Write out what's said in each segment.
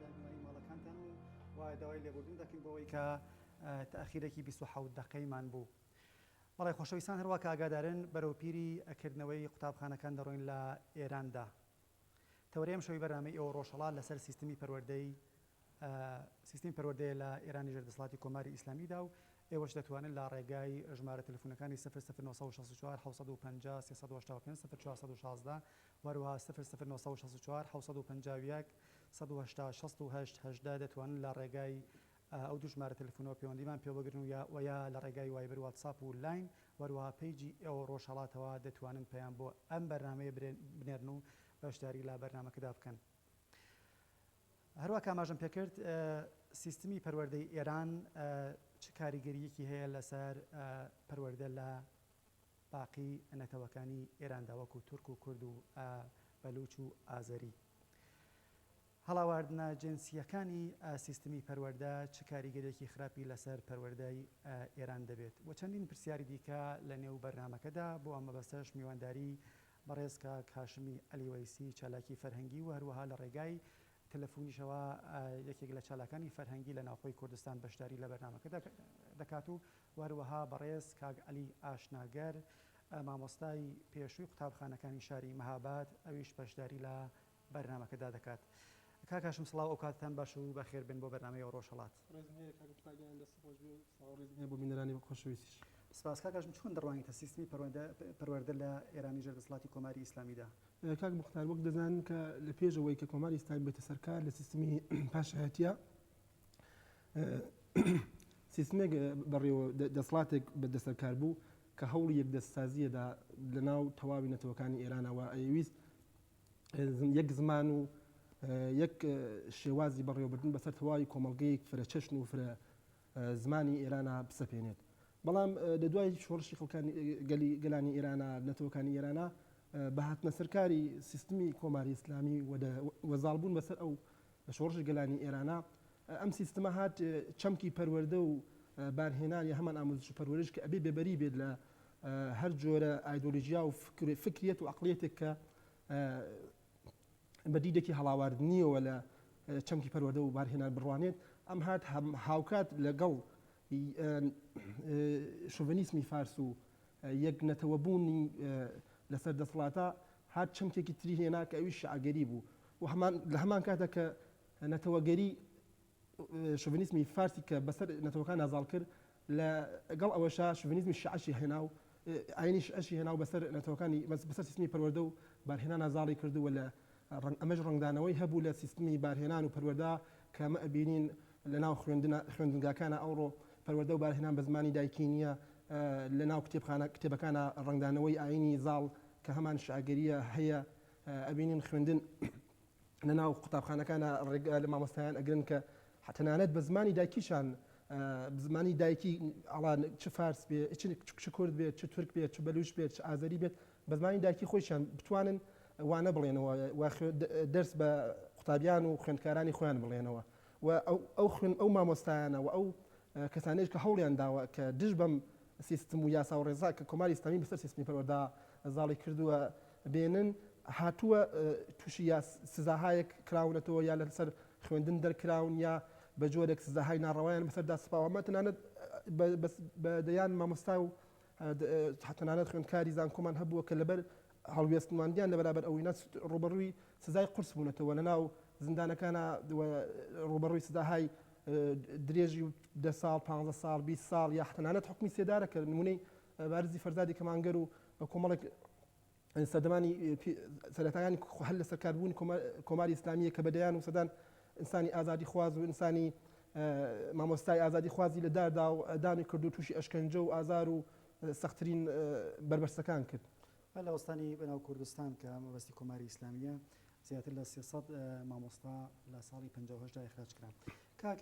دانەوەی ماڵەکانتان و وە داوای لێبوردن دەکەین بەوەی کە تاخیرێکی بیست و حەوت دەقەی مان بوو بەڵێ خۆشەویستان هەروا کە ئاگادارن بەرەو پیری کردنەوەی قوتابخانەکان دەڕۆین لە ئێران دا تەوەری ئەمشەوی بەرنامەی ئێوە ڕۆژهەڵات لەسەر سیستمی پەروەردەی سیستمی پەروەردەیە لە ئێرانی ژێر دەسڵاتی کۆماری ئیسلامی دا و ئێوەش دەتوانن لە ڕێگای ژمارە تەلەفونەکانی سفر سفر نۆ سەد و شەست و چوار حەوت سەد و پەنجا سێ سەد و هەشتا و پێنج سفر چوار سەد و شازدە هەروەها سفر سفر نۆ سەد و شەست و چوار حەوت سەد و پەنجا و یەک سەد و هەشتا شەست و هەشت هەژدە دەتوانن لە ڕێگای ئەو دوو ژمارە تەلەفونەوە پێوەندیمان پێوە بگرن و یا وە یا لە ڕێگای وایبر واتساپ و لاین وەروەها پەیجی ئێوە ڕۆژهەڵاتەوە دەتوانن پەیام بۆ ئەم بەرنامەیە بنێرن و بەشداری لە بەرنامەکەدا بکەن هەروەک ئاماژەم پێکرد سیستمی پەروەردەی ئێران چ کاریگەریەکی هەیە لەسەر پەروەردە لە باقی نەتەوەکانی ئێراندا وەکو تورک و کورد و ئا بەلوچ و ئازەری. هەڵاواردنە جنسییەکانی ئا سیستمی پەروەردە چ کاریگەریەکی خراپی لەسەر پەروەردەی ئا ئێران دەبێت؟ و چەندین پرسیاری دیکە لە نێو بەرنامەکەدا، بۆ ئەم مەبەستەش میوانداری بەڕێز کاک هاشمی عەلی وەیسی چالاکی فەرهەنگی و هەروەها لە ڕێگای تەلەفونیشەوە یەکێک لە چالاکانی فەرهەنگی لە ناوخۆی کوردستان بەشداری لە بەرنامەکەدا دەکات و و هەروەها بەڕێز کاک عەلی ئاشناگەر مامۆستای پێشووی قوتابخانەکانی شاری مهاباد ئەویش بەشداری لە بەرنامەکەدا دەکات. کاک هاشم سڵاو ئەو کاتتان باش و بەخێربێن بۆ بەرنامەی ئەو ڕۆژهەڵات. ڕێزم هەیە کاک میکائیلیان دەستت خۆش بێ و سڵاو و ڕێزم هەیە بۆ بینەرانی خۆشەویستیش. سپاس کاک هاشم چۆن دەڕوانیتە سیستمی پەروەردە لە ئێرانی ژێر دەسڵاتی کۆماری ئیسلامیدا؟ کاک موختار وەک دەزانن کە لە پێش ئەوەی کە کۆماری ئیسلامی بێتە سەر کار لە سیستمی پاشایەتیا سیستمێک بەڕێوە دەسڵاتێک بە دەسەلکار بوو کە هەوڵی یەک دەست سازیە دا لە ناو تەواوی نەتەوەکانی ئێرانە وە ئەیویست یەک زمان و یەک شێوازی بەڕێوەبردن بەسەر تەواوی کۆمەڵگەیەک فرە چەشن و فرە زمانی ئێرانە بسەپێنێت بەڵام لە دوای شۆڕشی خەڵکانی گەلی گەلانی ئێرانە نەتەوەکانی ئێرانە بە هاتنە سەرکاری سیستمی کۆماری ئیسلامی وەزاڵبوون بەسەر ئەو لە شۆڕشی گەلانی ئێرانا ئەم سیستمە هات چەمکی پەروەردە و بارهێنان یا هەمان ئاموزش و پەروەرش کە ئەبێ بێبەری بێت لە هەر جۆرە ئایدۆلۆژیا و فکریەت و عقلیەتێک کە بە دیدێکی هەڵاواردنیەوە لە چەمکی پەروەردە و بارهێنان بڕوانێت ئەم هات هاوکات لەگەڵ شوڤنیسمی فارس و یەک نەتەوەبوونی لەسەر دەسڵاتە هات چەمکێکی تری هێنا کە ئەوی شعگەری بوو و هەمان لە هەمان کاتدا کە نەتەوەگەری شۆڤینیزمی فارسی کە بەسەر نەتەوەکاندا زاڵ کرد لە گەڵ ئەوەشا شۆڤینیزمی شیعەشی هێنا و ئاینی شیعەشی هێنا و بەسەر نەتەوەکانی بەسەر سیستمی پەروەردە و بارهێنانا زاڵی کرد و لە ڕەنگ ئەمەش ڕەنگدانەوەی هەبوو لە سیستمی بارهێنان و پەروەردە کە ئەمە ئەبینین لە ناو خوێندنا خوێندنگاکانا ئەوڕۆ پەروەردە و بارهێنان بە زمانی دایکی نییە لە ناو کتێبخانە کتێبەکانا ڕەنگدانەوەی ئاینی زاڵ کە هەمان شیعەگەرییە هەیە ئەبینین خوێندن لە ناو قوتابخانەکانە ڕێگا لە مامۆستایان ئەگرن کە تەنانەت بە زمانی دایکیشان زمانی دایکی ئاڵان چ فارس بێ چ کورد بێت چ تورک بێت چ بەلوش بێت چ ئازەری بێت بە زمانی دایکی خۆشیان بتوانن وانە بڵێنەوە دەرس بە قوتابیان و خوێندکارانی خۆیان بڵێنەوە و ئەو خوێن ئەو مامۆستایانە و ئەو کەسانێک کە هەوڵیان داوە کە دژ بەم سیستم و یاسا و ڕێزا کە کۆماری ئسلامی بەسەر سیستمی پەروەدا زاڵی کردووە بێنن هاتووە تووشی یا سزاهایەک کراونەتەوە یا لە سەر خوێندن دەرکراون یا بە جۆرێک سزاهای ناڕەوایان بەسەردا سپاوە مە تەنانەت بە دەیان مامۆستا و تەنانەت خوێندکاری زانکۆمان هەبووە کە لەبەر هەڵوێستماندیان لە بەرابەر ئەوەی نەس ڕوبەڕووی سزای قورس بوونەتەوە لە ناو زیندانەکانە ڕوبەڕووی سزاهای درێژی و دە ساڵ پ ساڵ بی ساڵ یا تەنانەت حکومی سێدارە کە نمونەی بارزی فەرزادی کەمانگەر و کۆمەڵێک سەردەمانی سەرەتایانی هەر لە سەرکاربوونی کۆماری ئیسلامیە کە بەدەیان و سەدان ئینسانی ئازادی خواز و ئینسانی مامۆستای ئازادی خوازی لە داردا و دامی کرد و تووشی ئەشکەنجە و ئازار و سەختترین بەربەرسەکان کرد. هەر لە وەستانی بەناو کوردستان کە مەبەستی کۆماری ئیسلامیە زیاتر لە سێ سەد مامۆستا لە ساڵی پەنجا و هەشت دا ئیخراج کران. کاک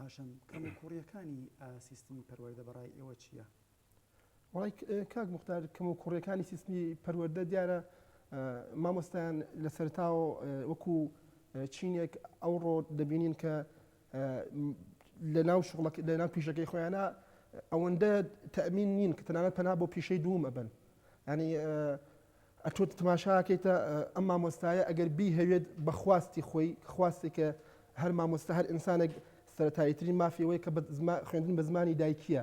هاشم کەموکووڕییەکانی سیستمی پەروەردە بە ڕای ئێوە چییە؟ وەڵای کاک مختار کەموکوڕیەکانی سیستمی پەروەردە دیارە مامۆستایان لە سەرتاوە وەکو چینێک ئەوڕۆ دەبینین کە لە ناو شغڵک لە ناو پیشەکەی خۆیانە ئەوەندە تەمین نین کە تەنانەت پەنا بۆ پیشەی دووم ئەبن ینی ئەتۆ تماشاکەیتە ئەم مامۆستایە ئەگەر بی هەوێت بەخواستی خۆی خواستی کە هەر مامۆستا هەر ئینسانێک سەتاییترین مافیەوەی کە خوێندن بە زمانی دایکیە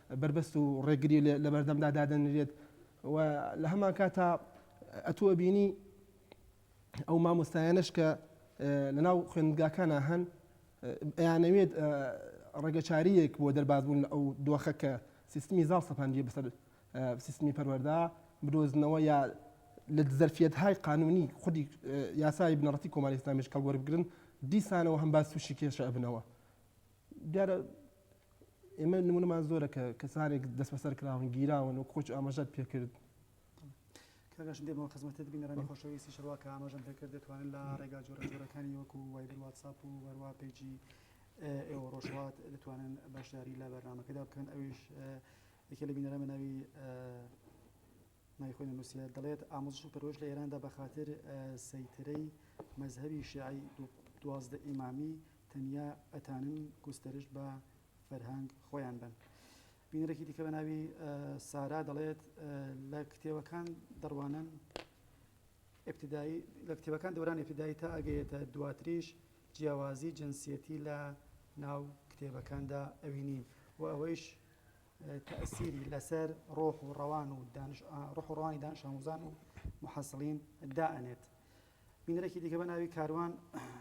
بەربەست و ڕێگری لەبەردەمدا دادەنرێت و لەهەمانکاتا ئەتوو ئەبینی ئەو مامۆستایانەش کە لەناو خوێندگاکانا هەن ئەیانەوێت ڕێگەچاریەک بۆ دەربازبوون لە ئەو دۆخە کە سیستمی زاڵ سەپاندیە بەسەر سیستمی پەروەردا بدۆزنەوە یا لە دزەرفیت های قانونی خودی یاسای بنەڕەتی کۆماری ئیسلامیش کەڵوەربگرن دیسانەوە هەم باز تووشی کێشە ئەبنەوە دیارە ئێمە نمونەمان زۆرە کە کەسانێک دەسبەسەر کراون گیراون و کۆچ ئاماژەت پێکرد. کاکاش دێمەوە خزمەتت بینەرانی خۆشەویستی شەروا کە ئاماژەم پێکرد دەتوانن لە ڕێگا جۆرە جۆرەکانی وەکو وایبر واتساپ و هەروا پەیجی ئێوە ڕۆژهەڵات دەتوانن بەشداری لە بەرنمەکەدا بکەن ئەویش یەکێ لە بینەرە بەناوی نایخۆی نووسە دەڵێت ئامۆزش و پەرۆش لە ئێراندا بە خاطر سەیترەی مەذهبی شیعی دوازدە ئیمامی تەنیا ئەتانن گوستەرشت بە فەرهەنگ خۆیان بەن. بینەرێکی دیکە بە ناوی سارا دەڵێت، لە کتێوەکان دەڕوانن ئیبتیدایی، لە کتێوەکان دەورانی ئیبتیدایی تا ئەگەیێتە دواتریش جیاوازی جنسیەتی لە ناو کتێبەکاندا ئەوینین و ئەوەیش تەئسیری لەسەر ڕۆح و ڕەوان و دانش ڕۆح و ڕەوانی دانش ئاموزان و محەسڵین دائەنێت. بینەرێکی دیکە بە ناوی کاروان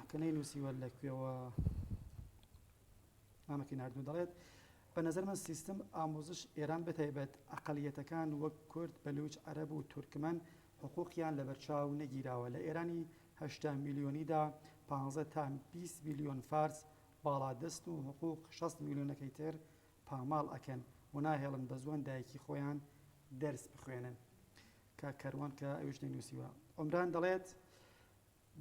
کە نەینووسیوە لە کوێوە نامەکەی ناردوو دەڵێت، بە نەزەر من سیستم ئامووزش ئێران بەتایبەت ئەقەلیەتەکان وەک کورد، بەلووچ، عەرەب و تورکمەن حقووقیان لەبەرچاو نەگیراوە. لە ئێرانی هەشتا میلیۆنیدا پانزە تا بیست میلیۆن فارس باڵادەستن و حقووق شەست میلیۆنەکەی تر پاماڵ ئەکەن و ناهێڵن بە زوان دایکی خۆیان دەرس بخوێنن کاک کەروان کە ئەویش نەینوسیوە عمران دەڵێت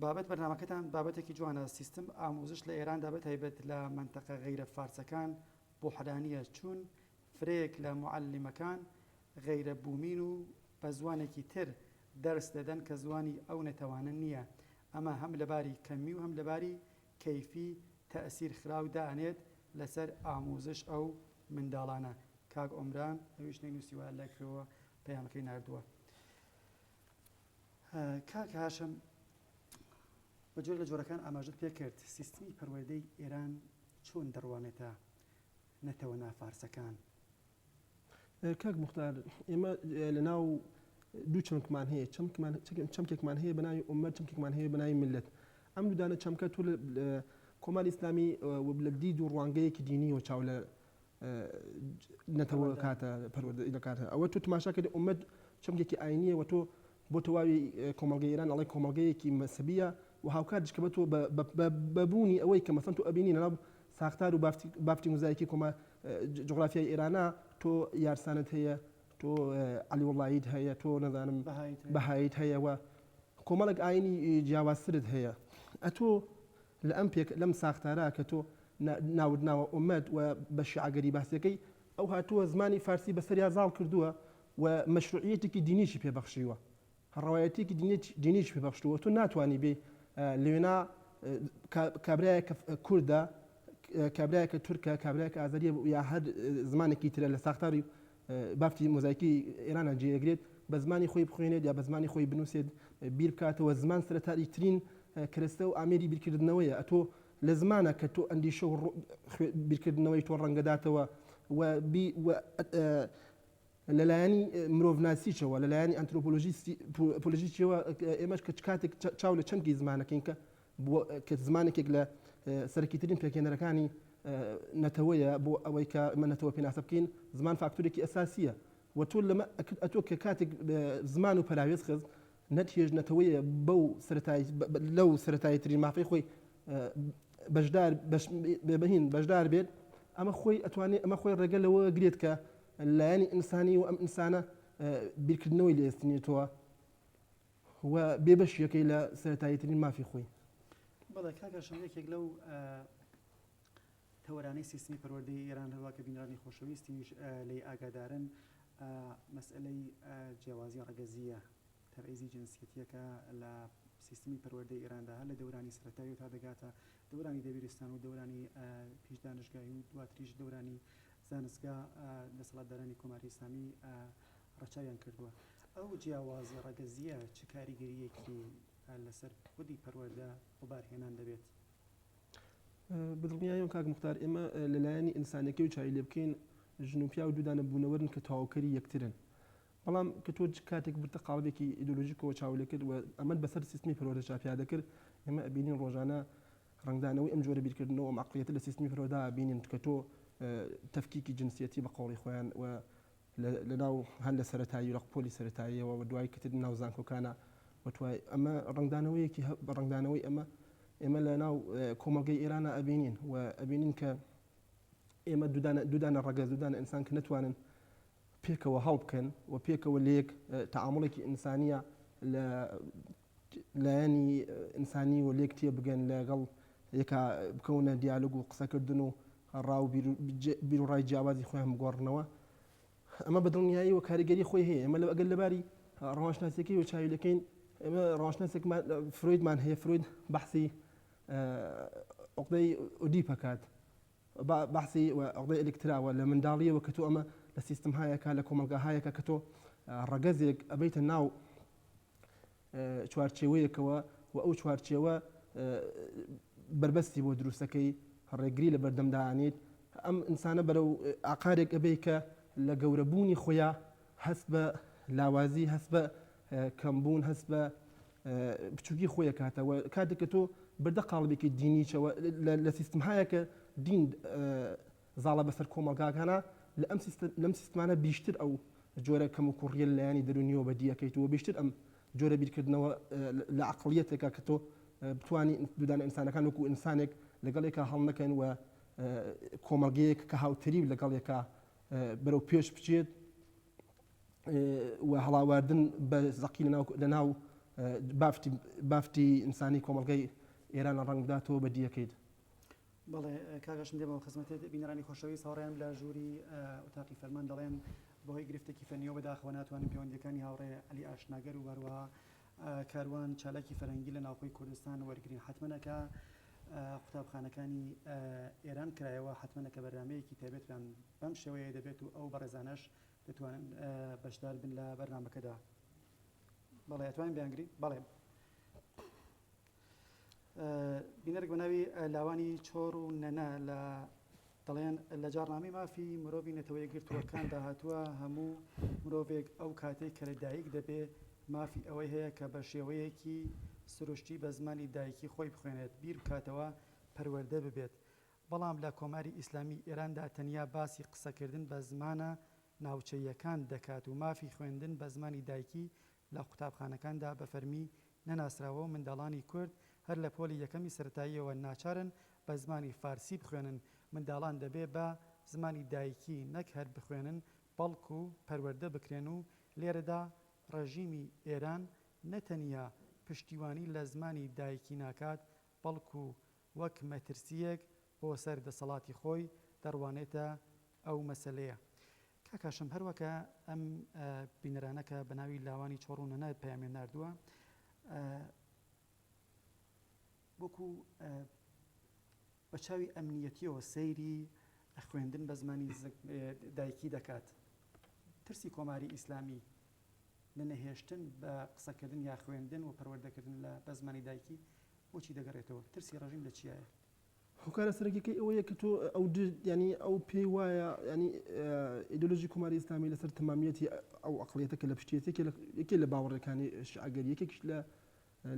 بابەت بەرنامەکەتان بابەتێکی جوانە سیستم ئاموزش لە ئێراندا بە تایبەت لە منتەقە غەیرە فارسەکان بوحرانیە چون فرەیەک لە معەلیمەکان غەیرە بومین و بە زوانێکی تر دەرس دەدەن کە زوانی ئەو نەتەوانە نیە ئەمە هەم لەباری کەمی و هەم لەباری کەیفی تەئسیر خراو دانێت لەسەر ئاموزش ئەو منداڵانە کاک ئۆمران ئەوی شتێک نوسیوە لەکوێوە پەیامەکەی ناردوە کاک هاشم بە جۆر لە جۆرەکان ئاماژت پێ کرد سیستمی پەروەردەی ئێران چۆن دەڕوانێتە نەتەوە نافارسەکان کاک موختار ئێمە لە ناو دوو چەمکمان هەیە چەمکمان چەمکێکمان هەیە بەناوی ئومەت چەمکێکمان هەیە بەناوی ملت ئەم دوودانە چەمکە تۆ کۆمار ئیسلامی لە دید و ڕوانگەیەکی دینی و چاو لە نەتەوە کاتە پەروەردە دەکاتە ئەوە تۆ تماشاکرد ئومەت چەمکێکی ئاینیە و تۆ بۆ تەواوی کۆمەڵگەی ئێران ئەڵێ کۆمەڵگەیەکی مەسەبییە و هاوکاتیش کە بەتۆ بە بە بە بوونی ئەوەی کە مەسەن تۆ ئەبینی لە ناو ساختار و بافتی بافتی موزایکی کۆما جوغرافیای ئێرانە تۆ یارسانت هەیە تۆ عەلی وەڵڵاییت هەیە تۆ نەزانم بەهاییت هەیە و کۆمەڵێک ئاینی جیاوازترت هەیە ئەتۆ لە ئەم پێک لەم ساختارە کە تۆ نا ناوت ناوە ئۆمەد و بە شیعەگەری باسیەکەی ئەو هاتووە زمانی فارسی بەسەریا زاڵ کردووە و مەشروعیەتێکی دینیشی پێ بەخشیوە ڕەوایەتیەکی دینیشی پێ بەخشتووە تۆ ناتوانی بێی لەوێنا کابرایەک کوردە کابرایەکە تورکە کابرایەک ئازەریە یا هەر زمانێکی ترە لە ساختاری بافتی مۆزایکی ئێرانە جێگرێت بە زمانی خۆی بخوێنێت یا بە زمانی خۆی بنووسێت بیر بکاتەوە زمان سەرتاری ترین کرستە و ئامێری بیرکردنەوەیە ئەتۆ لە زمانە کە تۆ ئەندیشە و بیرکردنەوەی تۆ ڕەنگەداتەوە و لە لایەنی مرۆڤناسییشەوە، لە لایەنی ئەنترۆپۆلۆژییشەوە، ئێمەش کە کاتێک چاو لە چەمکی زمان دەکەین کە کە زمانێکێک لە سەرەکیترین پێکهێنەرەکانی نەتەوەیە بۆ ئەوەی کە ئێمە نەتەوە پێناسە بکەین، زمان فاکتورێکی ئەساسییە و تۆ لەمە ئەتۆ کە کاتێک زمان و پەراوێز خست، نەتیەش نەتەوەیە بەو سەرەتای لەو سەرەتایی ترین مافەی خۆی بەشدار بەهین بەشدار بێت ئەمە خۆی ئەتوانێت ئەمە خۆی ڕێگە لەوە گرێت کە لایەنی ئینسانی و ئەم ئینسانە بیرکردنەوەی لێستنێتەوە و بێبەشیەکەی لە سەرەتاییترین مافی خۆی بەڵێ کاکە شەم یەکێک لەو تەوەرانەی سیستمی پەروەردەی ئێران هەروەها کە بینرانی خۆشەویستیش لێی ئاگادارن مەسئەلەی جیاوازیە ڕەگەزیە، تەبعیزی جنسیەتیە کە لە سیستمی پەروەردەی ئێراندا هەر لە دەورانی سەرەتاییەوە تا دەگاتە دەورانی دەبیرستان و دەورانی پیش دانشگایی و دواتریش دەورانی زانستگا دەسەڵاتدارانی کۆماری ئیسلامی ڕەچاویان کردووە. ئەو جیاوازیە ڕەگەزیە چ کاریگەرییەکی لەسەر خودی پەروەردە وەبارهێنان دەبێت؟ بەدڵنیایەوە کاک مختار ئێمە لە لایەنی ئینسانەکەی و چاوی لێ بکەین ژن و پیاو دوودانە بوونەوەرن کە تەواوکەری یەکترن بەڵام کە تۆ کاتێک برتە قاڵبێکی ئیدۆلۆژیکەوە چاو لێ کرد و ئەمەد بەسەر سیستمی پەروەردە چاپیا دەکرد ئێمە ئەبینین ڕۆژانە ڕنگدانەوەی ئەم جۆرە بیرکردنەوە ئەم عقلیەتە لە سیستمی پەروەردە بینین کە تۆ تفکیکی جنسیەتی بە قۆڵی خۆیان و لەناو هەر لە سەرەتایی رق پۆلی سەرەتاییەوە و دوای کەتن ناو زانکۆکانا و توای ئەمە رەنگدانەوەیەکی هە بە رەنگدانەوەی ئەمە ئێمە لە ناو کۆمەڵگەی ئێرانا ئەبینین و ئەبینین کە ئێمە دودانە دودانە رەگەز دودانە ئینسان کە نەتوانن پێکەوە هەڵبکەن و پێکەوە لەیەک تەعامڵێکی ئینسانیە لە لایەنی ئنسانی و لێک تێبگەن لە گەڵ یەکا بکەونە دیالۆگ و قسەکردن و ڕا و بیروڕای جیاوازی خۆیان بگۆڕنەوە ئەمە بە دڵنیایی و کاریگەری خۆی هەیە ئەمە لە ئەگەر لەباری ڕەوانشناسیەکەی و چاوی لەکەین ئێمە ڕەوانشناسێکمان فرۆیدمان هەیە فرۆید بەحسی عقدەی ئودی پکات بەحسی عقدەی ئەلکتراوە لە منداڵیەوە کە تۆ ئەمە لە سیستم هایەکە لە کۆمەلگا هایەکە کە تۆ ڕەگەزێک ئەبیتە ناو چوارچێوەیەکەوە و ئەو چوارچێوە بەربەستی بۆ دروستەکەی ڕێگری لە بەردەمدانیت ئەم ئینسانە بەرەو ئاقارێک ئەبێ کە لە گەورەبوونی خۆیا هەست بە لاوازی هەست بە کەمبوون هەست بە بچووکی خۆیە کاتەوە کاتێککە تۆ بەردە قاڵبێکی دینیچەوە لە سیستمهایەکە دین زاڵە بەسەر کۆمەڵگاکانا لە ئەم سیستە لەم سیستمانە بیشتر ئەو جۆرە کەم و کوڕیە لەلایەنی دەرونیەوە بەدی ئەکەیت و بیشتر ئەم جۆرە بیرکردنەوە لە عەقڵیەتێکە کە تۆ بتوانی دودانە ئینسانەکان وەکو ئینسانێک لەگەڵ یەکا هەڵنەکەن و کۆمەڵگەیەک کە هاوتەریب لەگەڵ یەکا بەرەو پێش بچێت و هەڵاواردن بە زەقی لەناو لەناو بافتی بافتی ئینسانی کۆمەڵگەی ئێرانە ڕەنگداتەوە بەدیەکەیت بەڵێ کاک هاشم دێمەوە خزمەتت، بینەرانی خۆشەویست هاوڕێیان لە ژووری ئوتاقی فەرمان دەڵێن بەهۆی گرفتێکی فەنیەوە بەداخەوە ناتوانن پێوەندیەکانی هاوڕێ عەلی ئاشناگەر و هەروەها کاروان چالاکی فەرهەنگی لە ناوخۆی کوردستان وەرگرین حەتمەنە کە قوتابخانەکانی ئێران کرایەوە حەتمەنە کە بەرنامەیەکی تایبەتیان بەم شێوەیە دەبێت و ئەو بەڕێزانەش دەتوانن بەشدار بن لە بەرنامەکەدا بەڵێ ئەتوانین بیانگرین بەڵێ بینەرێک بە ناوی لاوانی چۆڕ و نەنە لە دەڵێن لە جاڕنامەی مافی مرۆڤی نەتەوە یەکگرتووەکاندا هاتووە هەموو مرۆڤێک ئەو کاتێک کە لە دایک دەبێ مافی ئەوەی هەیە کە بە شێوەیەکی سروشتی بە زمانی دایکی خۆی بخوێنێت بیر بکاتەوە پەروەردە ببێت بەڵام لە کۆماری ئیسلامی ئێراندا تەنیا باسی قسەکردن بە زمانە ناوچەییەکان دەکات و مافی خوێندن بە زمانی دایکی لە قوتابخانەکاندا بە فەرمی نەناسراوە و منداڵانی کورد هەر لە پۆلی یەکەمی سەرەتاییەوە ناچارن بە زمانی فارسی بخوێنن، منداڵان دەبێ بە زمانی دایکی نەک هەر بخوێنن بەڵکوو پەروەردە بکرێن و لێرەدا ڕێژیمی ئێران نە تەنیا پشتیوانی لە زمانی دایکی ناکات بەڵکوو وەک مەترسییەک بۆ سەر دەسەڵاتی خۆی دەڕوانێتە ئەو مەسەلەیە. کاک هاشم هەر وەکە ئەم بینەرانە کە بە ناوی لاوانی چۆڕ و نەنە پەیامیان ناردووە وەکو بە چاوی ئەمنیەتیەوە سەیری خوێندن بە زمانی دایکی دەکات ترسی کۆماری ئیسلامی لە نەهێشتن بە قسەکردن یا خوێندن و پەروەردەکردن لە بە زمانی دایکی بۆچی دەگەڕێتەوە ترسی ڕژیم لە چیایە هۆکارە سەرەکیەکەی ئەوەیە کە تۆ ئەو یعنی ئەو پێی وایە یعنی ئیدۆلۆژی کوماری ئیسلامی لەسەر تەمامیەتی ئەو ئەقلیەتە کە لە پشتیەتێکی یەکێ لە باوەڕەکانی شعگەری یەکێکش لە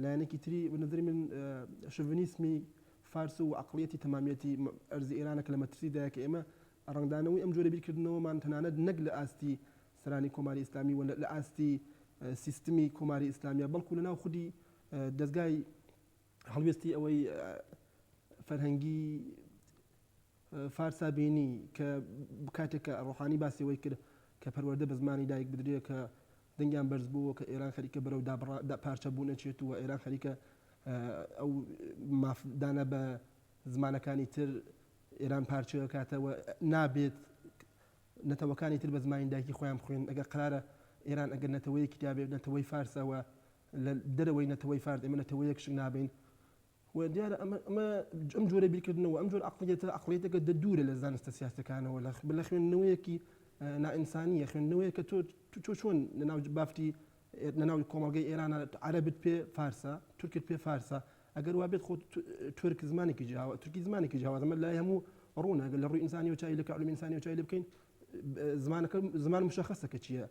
لایەنێکی تری بەنظری من شڤنیسمی فارس و عقلیەتی تەمامیەتی ئەرزی ئێرانە کە لە مەترسیدایە کە ئێمە ڕنگدانەوەی ئەم جۆرە بیرکردنەوەمان تەنانەت نەک لە ئاستی سەرانی کۆماری ئیسلامی و لە ئاستی سیستمی کۆماری ئیسلامیە بەڵکو لەناو خودی دەستگای هەڵوێستی ئەوەی فەرهەنگی فارسا بینی کە کاتێک کە ڕۆحانی باسی ئەوەی کرد کە پەروەردە بە زمانی دایک بدرێت کە دەنگیان بەرز بووە کە ئێران خەریکە بەرەو پارچە بوو نەچێت و ئێران خەریکە ئەو مافدانە بە زمانەکانی تر ئێران پارچەوە کاتەوە نابێت نەتەوەکانی تر بە زمانی دایکی خۆیان بخوێن ئەگەر قرارە ئێران ئەگەر نەتەوەیەکی دابێت نەتەوەی فارسەوە لە دەرەوەی نەتەوەی فارس ئێمە نەتەوەیەک شک نابەین و دیارە ئەمە ئەمە ئەم جۆرە بیرکردنەوە ئەم جۆر عقلیەتە عقلیەتەکە دە دوورە لە زانستە سیاسەکانەوە لە لە خوێندنەوەیەکی نائینسانیە خوێندنەوەیە کە تۆ تۆ چۆن لە ناو بافتی لە ناو کۆمەڵگەی ئێرانە عەربت پێ فارسە تورکت پێ فارسە ئەگەر وابێت خۆ تورک زمانێکی جیاوە تورکی زمانێکی جیاوازمە لای هەموو ڕوونە گەل لە ڕووی ئینسانی و چای لە کەعلوم ئینسانی و چای لێ بکەین زمانەکە زمان مشخصە کە چییە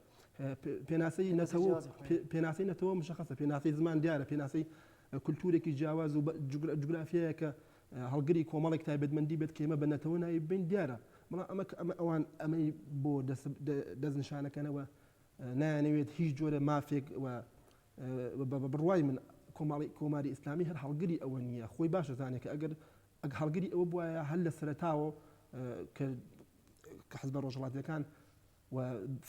پێناسەی نەتەوە پێناسەی نەتەوە مشخصە پێناسەی زمان دیارە پێناسەی کولتورێکی جیاواز و جوگرافیایەکە هەڵگری کۆمەڵێک تایبەتمەندی بێت کێمە بە نەتەوە ناوی بین دیارە بەڵام ئەمە ئەمە ئەوان ئەمەی بۆ دەستنیشانەکەنەوە نایانەوێت هیچ جۆرە مافێک بە بڕوای من کۆماڵی کۆماری ئیسلامی هەر هەڵگری ئەوە نییە خۆی باشە زانێک ئەگەر ئەگ هەڵگری ئەوە بواە هەر لە سەرتاوە کە حزبە ڕۆژهەڵاتییەکان و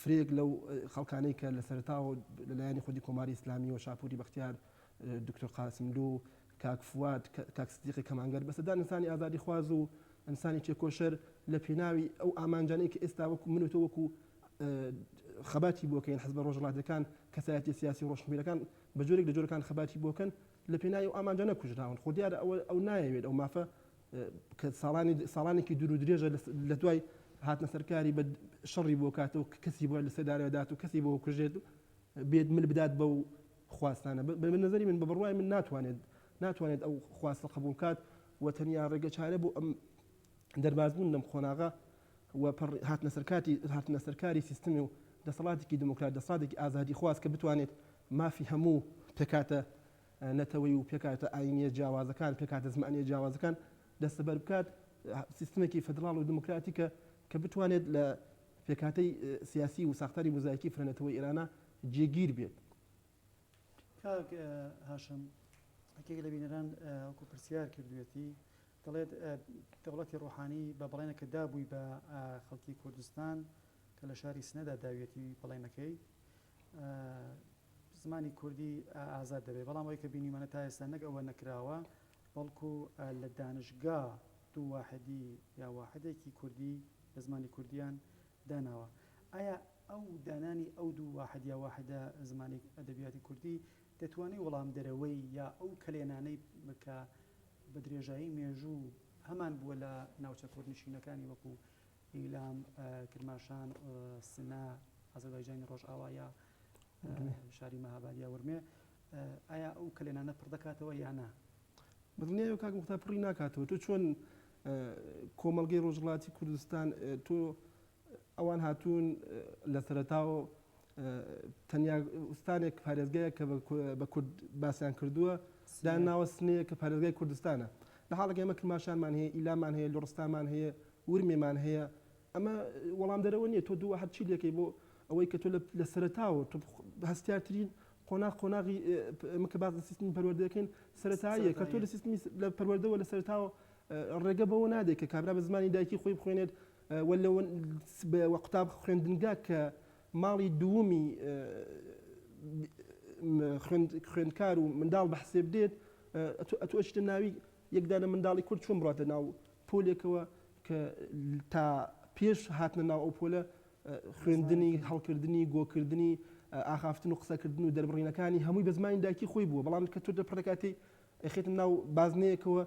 فرەیەک لەو خەڵکانەی کە لە سەرتاوە لەلایەنی خودی کۆماری ئسلامی و شاپوری بەختیار دکتۆر قاسملو کاک فواد کاک سدیقی کەمانگەر بە سەدان ئینسانی ئازادی خوازو و ئینسانی تێکۆشەر لە پێناوی ئەو ئامانجانەی کە ئێستا وەکو من و تۆ وەکو خەباتی بۆکەین حزبە ڕۆژهڵاتەکان کەسایەتی سیاسی و ڕۆشنبیرەکان بە جۆرێک لە جۆرەکان خەباتی بۆکەن لە پێناوی ئەو ئامانجانە کوژراون خۆ دیارە ئەوە ئەو نایەوێت ئەو مافە کە ساڵانی ساڵانێکی دوور و درێژە لە دوای هاتنە سەرکاری بە شەڕی بۆ کات و کەسی بۆ لە سێدارەدات و کەسی بۆ کوژێت و بێت مل بدات بە و خواستانە بە نظری من بە بڕای من ناتوانێت ناتوانێت ئەو خواستە قبول کات و تەنیا ڕێگە چارە بۆ ئەم دەربازبوون لەم قۆناغا و هاتنە سەرکاتی هاتنە سەرکاری سیستمی و دەسەڵاتێکی دموکرات دەسەڵاتێکی ئازادی خواست کە بتوانێت مافی هەموو پێکاتە نەتەوەی و پێکهاتە ئایینییە جیاوازەکان، پێکهاتە زمانییە جیاوازەکان دەستەبەر بکات، سیستمێکی فیدراڵ و دیموکراتیکە کە بتوانێت لە پێکهاتەی سیاسی و ساختاری موزایکی فرەنەتەوەی ئێرانە جێگیر بێت. کاک هاشم، یەکێک لە بینەران وەکو پرسیار کردوویەتی، دەڵێت دەوڵەتی ڕووحانی بە بەڵێنە کە دابووی بە خەڵکی کوردستان کە لە شاری سنەدا داویەتی بەڵێنەکەی، زمانی کوردی ئازاد دەبێت، بەڵام ئەوەی کە بینیومانە تا ئێستا نەک ئەوە نەکراوە، بەڵکو لە دانشگا دوو واحدی یا واحدێکی کوردی بە زمانی کوردییان داناوە. ئایا ئەو دانانی ئەو دوو واحد یا واحدە زمانی ئەدەبیاتی کوردی دەتوانێت وەڵامدەرەوەی یا ئەو کەلێنانەی کە بە درێژایی مێژوو هەمان بووە لە ناوچە کوردنشینەکانی وەکو ئیلام، کرماشان، سنە، ئازەربایجانی ڕۆژئاوا یا شاری مەهاباد یا ورمێ، ئایا ئەو کەلێنانە پڕ دەکاتەوە یا نا؟ بەدڵنیایەوە کاک موختار پڕی ناکاتەوە تۆ چۆن کۆمەڵگەی ڕۆژهەڵاتی کوردستان تۆ ئەوان هاتوون لە سەرەتاوە تەنیا ئوستانێک پارێزگایە کە بە کورد باسیان کردووە داناوە سنەیە کە پارێزگای کوردستانە لە حاڵەکە ئێمە کرماشانمان هەیە ئیلامان هەیە لوڕستامان هەیە ورمێمان هەیە ئەمە وەڵامدەرەوە نیە تۆ دووە هەرچی لەکەی بۆ ئەوەی کە تۆ لە سەرەتاوە تۆ هەستیارترین قۆناغ قۆناغی ئەمە کە باس لە سیستمی پەروەردە دەکەین سەرەتاییە کە تۆ لە سیستمی لە پەروەردەوە لە سەرەتاوە ڕێگە بەوە نادەیت کە کابرا بە زمانی دایکی خۆی بخوێنێت وە لە وە قوتاب خوێندنگا کە ماڵی دوومی خوێندکار و منداڵ بە حسێب دێت ئەتوو ئەتوو ئەچیتە ناوی یەک دانە منداڵی کورد چۆن بڕاتە ناو پۆلێکەوە کە تا پێش هاتنە ناو ئەو پۆلە خوێندنی، هەڵکردنی، گۆکردنی، ئاخافتن و قسەکردن و دەربڕینەکانی هەمووی بە زمانی دایکی خۆی بووە، بەڵام کە تۆ دەپردەکاتێی ئەیخەیتە ناو بازنەیەکەوە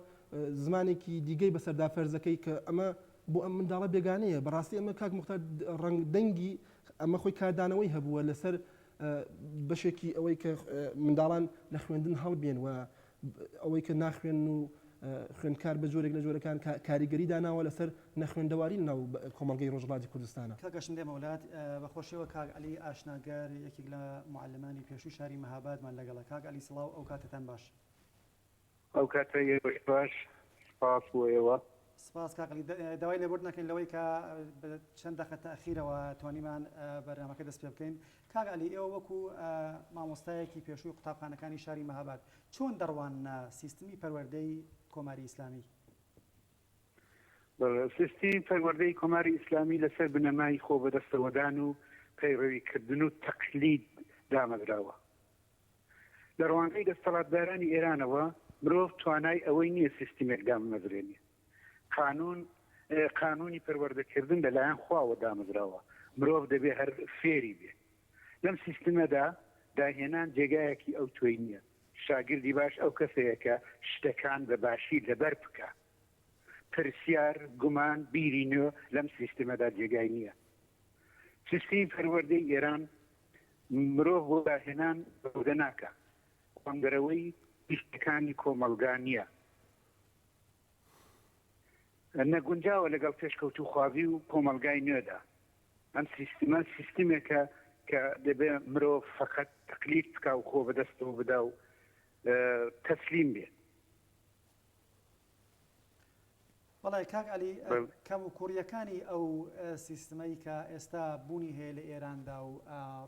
زمانێکی دیگەی بەسەردا فەرز ئەکەی کە ئەمە بۆ ئەم منداڵە بێگانەیە، بەڕاستی ئەمە کاک موختار ڕەنگ دەنگی ئەمە خۆی کاردانەوەی هەبووە لەسەر بەشێکی ئەوەی کە منداڵان لە خوێندن هەڵبێن و ئەوەی کە ناخوێنن و خوێندکار بە جۆرێک لە جۆرەکان کاریگەری داناوە لەسەر نەخوێندەواری لە ناو کۆمەڵگەی ڕۆژهەڵاتی کوردستانا. کاک ئەشم دێمە ولات بە خۆشیەوە کاک عەلی ئاشناگەر یەکێک لە معەلمانی پێشووی شاری مەهابادمان لەگەڵە کاک عەلی سڵاو ئەو کاتەتان باش. ئەو کاتە ئێوەش باش سپاس بۆ ئێوە. سپاس کاک عەلی داوای لێبوردن ئەکەین لەوەی کە بە چەند دەقە تاخیرەوە توانیمان بەرنامەکە دەست پێ بکەین کاک عەلی ئێوە وەکو مامۆستایەکی پێشووی قوتابخانەکانی شاری مەهاباد چۆن دەڕواننە سیستمی پەروەردەی کۆماری ئیسلامی؟ سیستمی پەروەردەی کۆماری ئیسلامی لەسەر بنەمای خۆ بەدەستەوەدان و پەیڕەوی کردن و تەقلید دامەزراوە. لە ڕوانگەی دەستەڵاتدارانی ئێرانەوە مرۆڤ توانای ئەوەی نییە سیستمێک داممەزرێنێ. قانون قانونی پەروەردەکردن لە لایەن خواوە دامەزراوە مرۆڤ دەبێ هەر فێری بێ لەم سیستمەدا داهێنان جێگایەکی ئەو تۆی نییە شاگردی باش ئەو کەسەیە کە شتەکان بە باشی لەبەر بکا پرسیار گومان بیری نوێ لەم سیستمەدا جێگای نییە سیستمی پەروەردەی ئێران مرۆڤ بۆ داهێنان بەودە ناکە قۆندەرەوەی گشتەکانی کۆمەلگا نییە نەگونجاوە لەگەڵ پێشکەوتووخوازی و کۆمەڵگای نوێدا. ئەم سیستمە سیستمێکە کە دەبێ مرۆڤ فەقەت تەقلید بکا و خۆ بەدەستەوە بدا و تەسلیم بێ. بەڵێ کاک عەلی، کەموکووڕییەکانی ئەو سیستمەی کە ئێستا بوونی هەیە لە ئێراندا و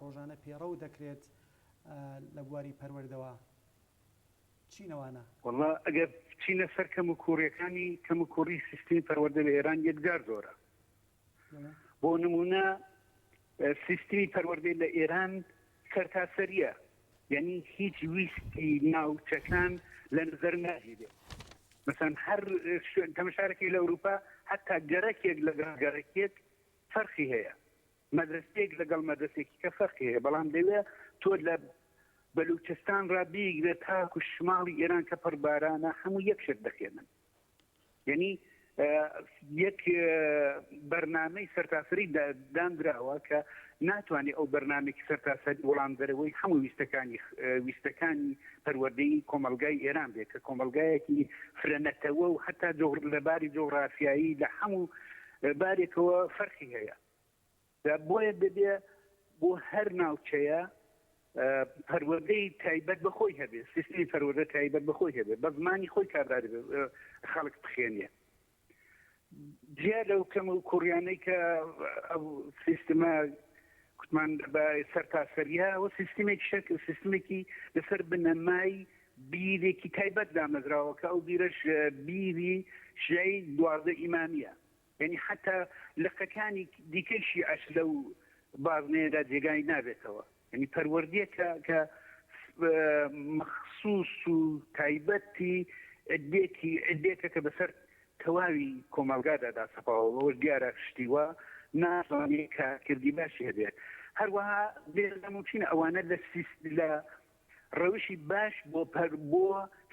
ڕۆژانە پێڕەو دەکرێت لە بواری پەروەردەوە، چینەوانە. وەڵا ئەگەر بچینە سەر کەموکووڕیەکانی کەموکووڕی سیستمی پەروەردە لە ئێران یەکجار زۆرە. بۆ نموونە سیستمی پەروەردەی لە ئێران سەرتاسەریە یعنی هیچ ویستی ناوچەکان لە نظر ناگیرێ مثلا هەر تەمەشارەکەی لە ئەوروپا حتا گەرەکێک لەگەڵ گەرەکێک فەرخی هەیە مەدرەسەیەک لەگەڵ مەدرەسەێکی کە فەرقی هەیە بەڵام دەوێت تۆ لە بەلوچستان ڕا بیگرێت تاکو شماڵی ئێران کە پڕ بارانە هەموو یەک شت دەخێنن یعنی یەک بەرنمەی سەرتاسری دامدراوە کە ناتوانێت ئەو بەرنمێکی سەرتاسەر وەڵام دەرەوەی هەموو ویستەکانی ویستەکانی پەروەردەی کۆمەلگای ئێران بێت کە کۆمەلگایەکی فرەنەتەوە و هەتا لەباری جۆغرافیایی لە هەموو بارێکەوە فەرخی هەیە دا بۆیە دەبێ بۆ هەر ناوچەیە پەروەردەی تایبەت بە خۆی هەبێ سیستمی پەروەردە تایبەت بە خۆی هەبێ بە زمانی خۆی کارداری خەڵک بخێنێ جیا لەو کەم و کوڕیانەی کە سیستمە کوتمان بە سەر تاسەریا و سیستمێک شەک سیستمێکی لەسەر بنەمای بیرێکی تایبەت دامەزراوە کە ئەو بیرەش بیری شیعی دوازدە ئیمامیە یانی حەتا لقەکانی دیکەی شیعەش لەو بازنەیەدا جێگای نابێتەوە، یانی پەروەردەیەکە کە مەخسوس و تایبەتی عدێکی عدێکە کە بەسەر تەواوی کۆمەڵگادا داسەپاوە، بەوەش دیارە شتی وا ناتوانێت کارکردی باشی هەبێت، هەروەها بێ لاموچین ئەوانە لە سیس لە ڕەوشی باش بۆ بۆ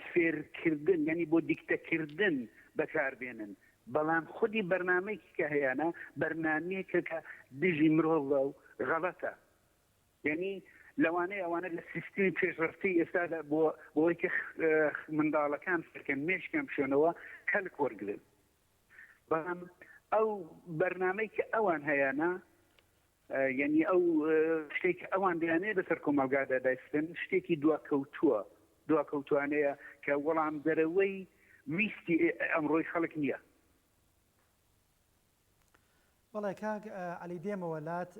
فێرکردن یانی بۆ دیکتەکردن بەکاربێنن بەڵام خودی بەرنامەیەکی کە هەیانە بەرنامەیەکە کە دژی مرۆڤە و غەڵەتە یعنی لەوانەیە ئەوانە لە سیستمی پێشڕستی ئێستادا بۆ بۆیکە منداڵەکان فکەن مێشکیان بشێنەوە کەلک وەرگن بەڵام ئەو بەرنامەی کە ئەوان هەیانە یعنی ئەو شتێک ئەوان دەیانێ بەسەر کۆمەلگادا دایستن شتێکی دواکەوتووە دواکەوتوانەیە کە وەڵام دەرەوەی ویستی ئەمڕۆی خەڵک نییە بەڵێ کاک عەلی دێمەوە لات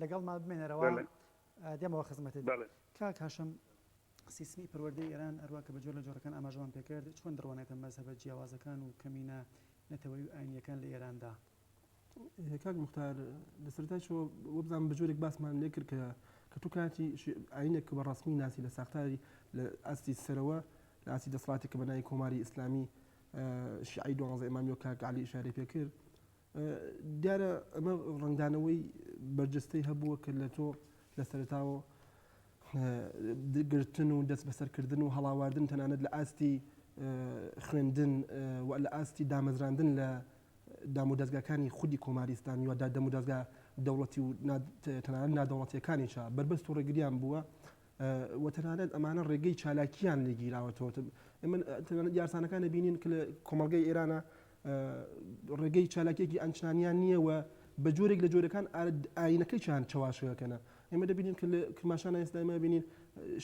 لەگەڵمان بمێنەرەوە بەلێ دێمەوە خزمەتت بەلێ. کاک هاشم سیستمی پەروەردەی ئێران هەروا کە بە جۆر لە جۆرەکان ئاماژەمان پێ کرد چۆن دڕوانێتە مەزهەبە جیاوازەکان و کەمینە نەتەوەیی و ئاینییەکان لە ئێراندا؟ کاک موختار لە سەرەتای شەوە وەبزانم بە جۆرێک باسمان لێ کرد کە کە تو کاتی ئاینێک کە بە ڕەسمی ناسی لە ساختاری لە ئاستی سەرەوە لە ئاستی دەسڵاتی کە بە ناوی کۆماری ئیسلامی شیعەی دوانزە ئیمامی وەک کاک عەلی ئیشارەی پێ کرد دیارە ئەمە ڕەنگدانەوەی بەرجەستەی هەبووە کە لە تۆ لە سەرەتاوە گرتن و دەست بەسەرکردن و هەڵاواردن تەنانەت لە ئاستی خوێندن و لە ئاستی دامەزراندن لە دام و دەستگاکانی خودی کۆماری ئیسلامی ودا دەم و دەستگا دەوڵەتی و تەنانەت نادەوڵەتیەکانیشە بەربەست و ڕێگریان بووە و تەنانەت ئەمانە ڕێگەی چالاکیان لێگیراوەتەوە ئەمە یارسانەکان بینین کە لە کۆمەلگای ئێرانە ڕێگەی چالاکیەکی ئانچنانیان نییە و بە جۆرێک لە جۆرەکان ئاینەکەی چیان چواشەکەنە ئێمە دەبینین کە کرماشانە ئێستا ئێمە بینین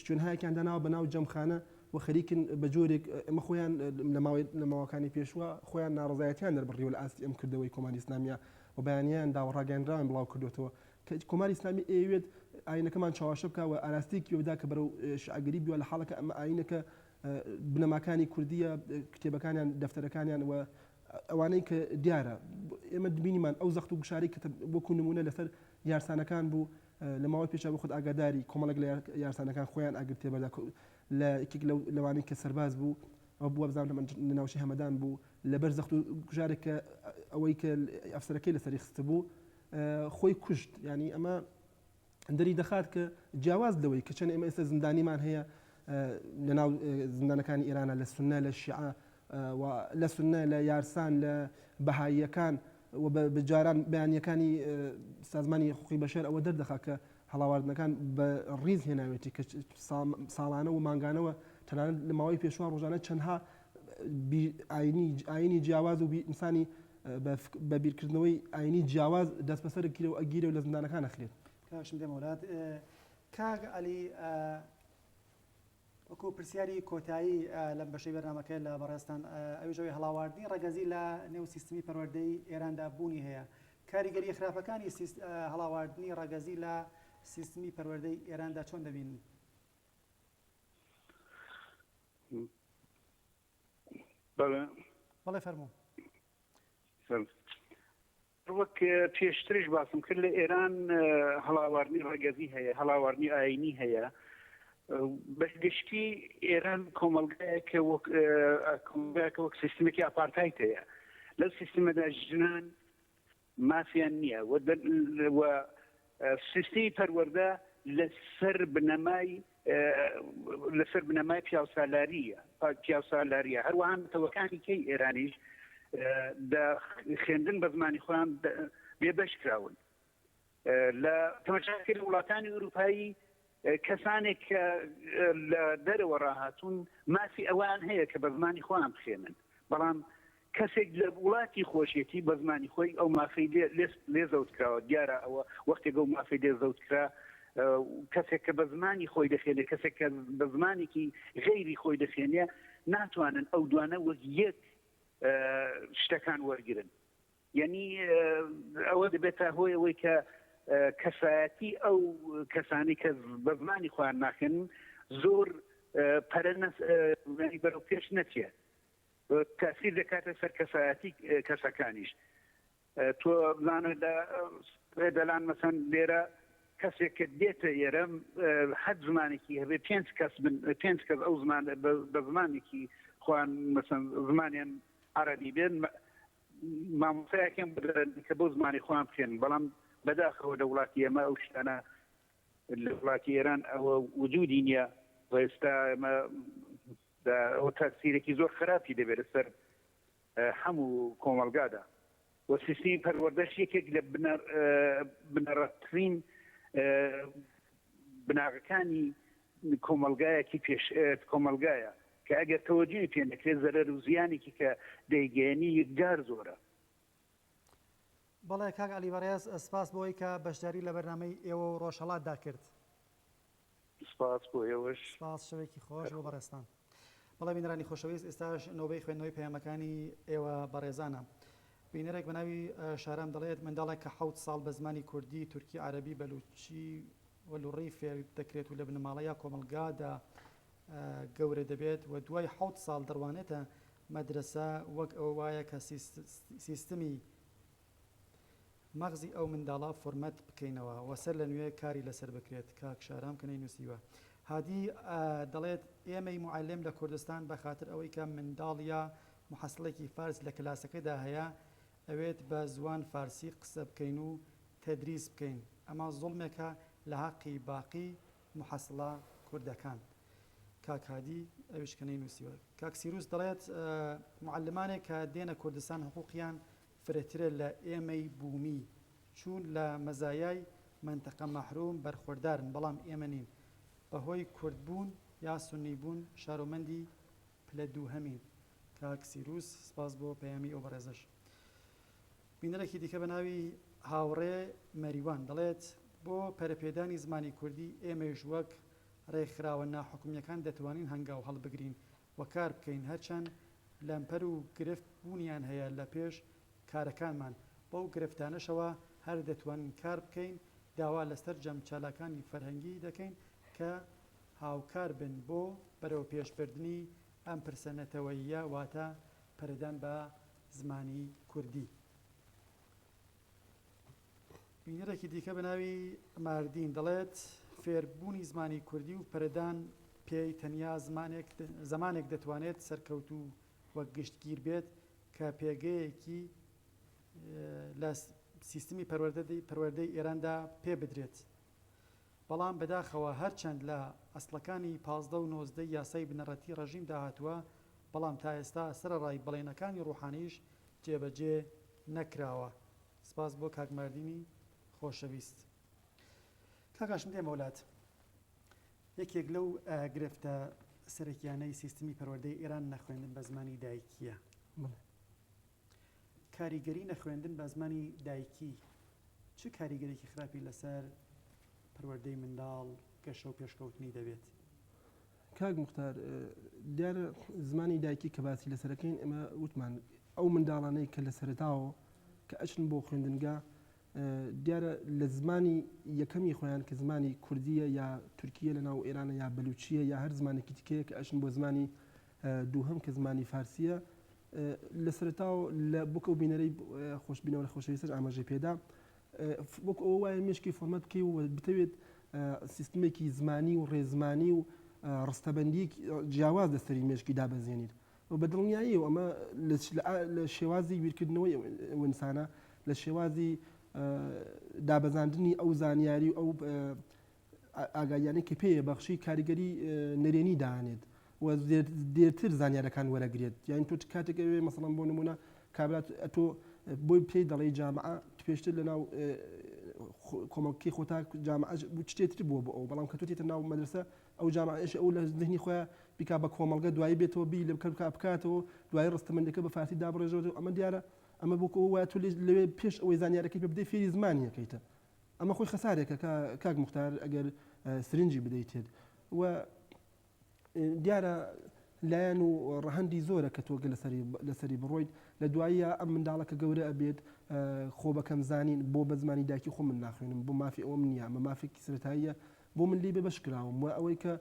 شوێنهایەکیان داناوە بە ناو جەمخانە و خەریکن بە جۆرێک ئەمە خۆیان لە ماوەی لە ماوەکانی پێشوە خۆیان ناڕزایەتیان دەربڕیوە لە ئاستی ئەم کردەوەی کۆماری ئسلامیە و بەیانیان داوەڕاگەنراوان بڵاو کردوێتەوە کە کۆماری ئسلامی ئەوێت ئاینەکەمان چاواشە بکەوە ئاراستێکی ودا کە بەرەو شعگەری بیوە لە حاڵەکە ئەمە ئاینەکە بنەماکانی کوردییە، کتێبەکانیان، دەفتەرەکانیان و ئەوانەی کە دیارە ئێمە بینیمان ئەو زەخت و گوشاری کە وەکو نموونە لەسەر یارسانەکان بوو لە ماوەی پێشا بۆ خۆت ئاگاداری کۆمەڵێک لە یارسانەکان خۆیان ئاگرتێ بەدا لە یەکێک لەوانەی کە سەرباز بوو ئەو بووە بزان لە ناوچی هەمەدان بوو لەبەر زەخت و گوشارێک کە ئەوەی کە ئەفسەرەکەی لەسەری خستە بوو خۆی کوشت ینی ئەمە دەریدەخات کە جیاواز لەوەی کە چەند ئێمە ئێستا زیندانیمان هەیە لە ناو زیندانەکانی ئێرانا لە سوننە لە شیعە و لە سوننە لە یارسان لە بەهاییەکان و بە جاران بەیانیەکانی سازمانی حقوقی بەشەر ئەوە دەردەخا کە هەڵاواردنەکان بە ڕیز هێناوێتی کە ساڵانە و مانگانەوە تەنانەت لە ماوەی پێشوان ڕۆژانە چەندها ئاینی ئاینی جیاواز و ئینسانی بە بە بیرکردنەوەی ئاینی جیاواز دەسبەسەر گیرە و ئەگیرە و لە زندانەکان ئەخرێت. کاشم دێمە وەلات. کاک عەلی وەکو پرسیاری کۆتایی لەم بەشەی بەرنامەکە لە بەڕێزتان ئەویش ئەوی هەڵاواردنی ڕەگەزی لە نێو سیستمی پەروەردەی ئێراندا بوونی هەیە کاریگەری خراپەکانی هەڵاواردنی ڕەگەزی لە سیستمی پەروەردەی ئێراندا چۆن دەبینن؟ بەڵێ بەڵێ فەرموو وەک پێشترش باسم کرد لە ئێران هەڵاوارنی ڕگەزی هەیە هەڵاوارنی ئاینی هەیە بە گشتی ئێران کۆمەلگایەکە کۆمەلگایەکە وەک سیستمێکی ئاپارتایت هەیە لەو سیستمەدا ژنان مافیان نییە و سیستمی پەروەردە لەسەر بنەمای لەسەر بنەمای پیاوسالارییە پیاوسالاریە هەروەها نەتەوەکانی کەی ئێرانیش دە خوێندن بە زمانی خۆیان بێبەش کراون لە تەمەشاکرد وڵاتانی ئوروپایی کەسانێک کە لە دەرەوە ڕاهاتوون مافی ئەوەیان هەیە کە بە زمانی خۆیان بخوێنن، بەڵام کەسێک لە وڵاتی خۆشیەتی بە زمانی خۆی ئەو مافەی لێ زەوتکراوە، دیارە ئەوە وەختێک ئەو مافەی لێ زەوتکرا کەسێک کە بە زمانی خۆی دەخوێنێ کەسێک کە بە زمانێکی غەیری خۆی دەخوێنێ ناتوانن ئەو دوانە وەک یەک شتەکان وەرگرن. یەنی ئەوە دەبێتە هۆی ئەوەی کە کەسایەتی ئەو کەسانی کە بە زمانی خۆیان ناخێن زۆر پەرە بەرەو پێش نەچێ تاثیر دەکاتە سەر کەسایەتی کەسەکانیش تۆ بزانە لە دەلان مەسەن لێرە کەسێک کە دێتە ئێرە حەد زمانێکی هەبێ پێنج کەس پێنج کەس ئەو زمان بە زمانێکی خوان مەسەن زمانیان عربی بێن مامۆستایەکیان بۆ دەرەنن کە بۆ زمانی خۆیان بخێنن، بەڵام بەداخەوە لە وڵاتی ئێمە ئەو شتانە لە وڵاتی ئێران ئەوە وجودی نییە و ئێستا ئێمە ئەوە تاسیرێکی زۆر خراپی دەبێت لەسەر هەموو کۆمەلگادا و سیستمی پەروەردەش یەکێک لە بنەڕەتترین بناغەکانی کۆمەلگایەکی پێش کۆمەلگایە کە ئەگەر تەوەجوی پێ نەکرێت زەرەر و زیانێکی کە دەیگەیەنی یکجار زۆرە. بەڵێ کاک عەلی بەڕێز، سپاس بۆ ئەوەی کە بەشداری لە بەرنامەی ئێوە و ڕۆژهەڵاتدا کرد. سپاس بۆ ئێوەش. سپاس، شەوێکی خۆش بۆ بەڕێزتان. بەڵێ بینەرانی خۆشەویست، ئێستاش نۆبەی خوێندنەوەی پەیامەکانی ئێوە بەڕێزانە. بینەرێک بە ناوی شارام دەڵێت، منداڵێک کە حەوت ساڵ بە زمانی کوردی، تورکی، عەرەبی، بەلووچی و لوڕی فێر دەکرێت و لە بنەماڵە یا کۆمەڵگادا گەورە دەبێت و دوای حەوت ساڵ دەڕوانێتە مەدرەسە، وەک ئەوە وایە کە سیستمی مەغزی ئەو منداڵە فۆرمەت بکەینەوە و سەر لە نوێ کاری لەسەر بکرێت، کاک شارام کە نەینووسیوە هادی دەڵێت ئێمەی موعەلم لە کوردستان بە خاتر ئەوەی کە منداڵ یا موحەسڵێکی فارس لە کلاسەکەدا هەیە ئەوێت بە زوان فارسی قسە بکەین و تەدریس بکەین ئەمە زوڵمێکە لە هەقی باقی محەسڵە کوردەکان کاک هادی ئەویش کە نەینوسیوە. کاک سیروس دەڵێت معەلمانێک کە دێنە کوردستان حقوقیان فرەترە لە ئێمەی بومی چوون لە مەزایای مەنتەقە مەحروم بەرخوەردارن بەڵام ئێمە نین بەهۆی کوردبوون یا سونی بوون شارۆمەندی پلە دووهەمین کاک سیروس سپاس بۆ پەیامی ئەو بەڕێزەش. بینەرێکی دیکە بە ناوی هاوڕێ مەریوان دەڵێت، بۆ پەرەپێدانی زمانی کوردی ئێمەیش وەک ڕێکخراوە ناحکومییەکان دەتوانین هەنگاو هەڵبگرین و کار بکەین هەرچەند لەمپەر و گرفت بوونیان هەیە لە پێش کارەکانمان بەو گرفتانەشەوە هەر دەتوانین کار بکەین داوا لە سەرجەم چالاکانی فەرهەنگی دەکەین کە هاوکار بن بۆ بەرەوپێشبردنی ئەم پرسە نەتەوەییە واتە پەرەدان بە زمانی کوردی. بینەرێکی دیکە بە ناوی ماردین دەڵێت، فێربوونی زمانی کوردی و پەرەدان پێی تەنیا زمانێک دەتوانێت سەرکەوتوو و گشتگیر بێت کە پێگەیەکی لە سیستمی پەروەردەی ئێراندا پێ بدرێت. بەڵام بەداخەوە هەرچەند لە ئەسڵەکانی پازدە و نۆزدەی یاسای بنەڕەتیی ڕێژیمدا هاتووە، بەڵام تا ئێستا سەرەڕای بەڵێنەکانی ڕووحانییش جێبەجێ نەکراوە. سپاس بۆ کاک ماردینی خۆشەویست. کاک هاشم دێمە وەلات. یەکێک لەو گرفتە سەرەکییانەی سیستمی پەروەردەی ئێران نەخوێندن بە زمانی دایکییە. بەڵێ. کاریگەری نەخوێندن بە زمانی دایکی چ کاریگەریەکی خراپی لەسەر پەروەردەی منداڵ گەشە و پێشکەوتنی دەبێت؟ کاک مختار دیارە زمانی دایکی کە باسی لەسەرەکەین ئەمە وتمان ئەو منداڵانەی کە لە سەرتاوە کە ئەچن بۆ خوێندنگە دیارە لە زمانی یەکەمی خۆیان کە زمانی کوردیە یا تورکیە لە ناو ئێرانە یا بلوچیە یا هەر زمانێکی تکەیە کە ئەشن بۆ زمانی دووهەم کە زمانی فارسییە لە سەرەتاوە لە بۆ کە ئەو بینەرەی خۆش بینەوەرە خۆشەویستەش ئاماژەی پێدا وەکو ئەوە وایە مێشکی فۆرمەت بکەی و بتەوێت سیستمێکی زمانی و ڕێزمانی و ڕستەبندیەکی جیاواز لەسەری مێشکی دابەزێنیت و بە دڵنیایی و ئەمە لە شێوازی بیرکردنەوەی ئەوئسانە لە شێوازی دابەزاندنی ئەو زانیاری و ئەو ئاگاییانەی کە پێ یە بەخشی کاریگەری نەرێنی دانێت و دێرتر زانیارەکان وەرەگرێت یاین تۆ کاتێک ئەوێ مەسەڵەن بۆ نمونە کابرات تۆ بۆی پێی دەڵی جامعە پێشتر لە ناو کۆمەڵکی خۆتا جامعەش شتێتر بووە بۆ ئەو بەڵام کە تۆ تێتە ناو مەدرسە ئەو جامعەش ئەو لە ذهنی خۆیان بیکا بە کۆمەڵگە دوایی بێتەوە بی لە بکەم کا بکاتەوە دوای ڕستەمەندەکە بە فارسی دابڕێژەوە ئەمە دیارە ئەمە بۆکەوە وایە تۆ لەوێ پێش ئەوەی زانیارەکەی پێ بدەی فێری زمانیەکەیتە ئەمە خۆی خەسارێکە کاک موختار ئەگەر سرنجی بدەیتێت و دیارە لایەن و ڕەهەندی زۆرە کە تۆگە لەسەری بڕۆیت لە دواییە ئەم منداڵە کە گەورە ئەبێت خۆ بەکەم زانین بۆ بە زمانی داکی خۆ من ناخوێنم بۆ مافی ئەوم نییە مە مافێکی سرتاییە بۆ من لی بێ بەش کراوم و ئەوەی کە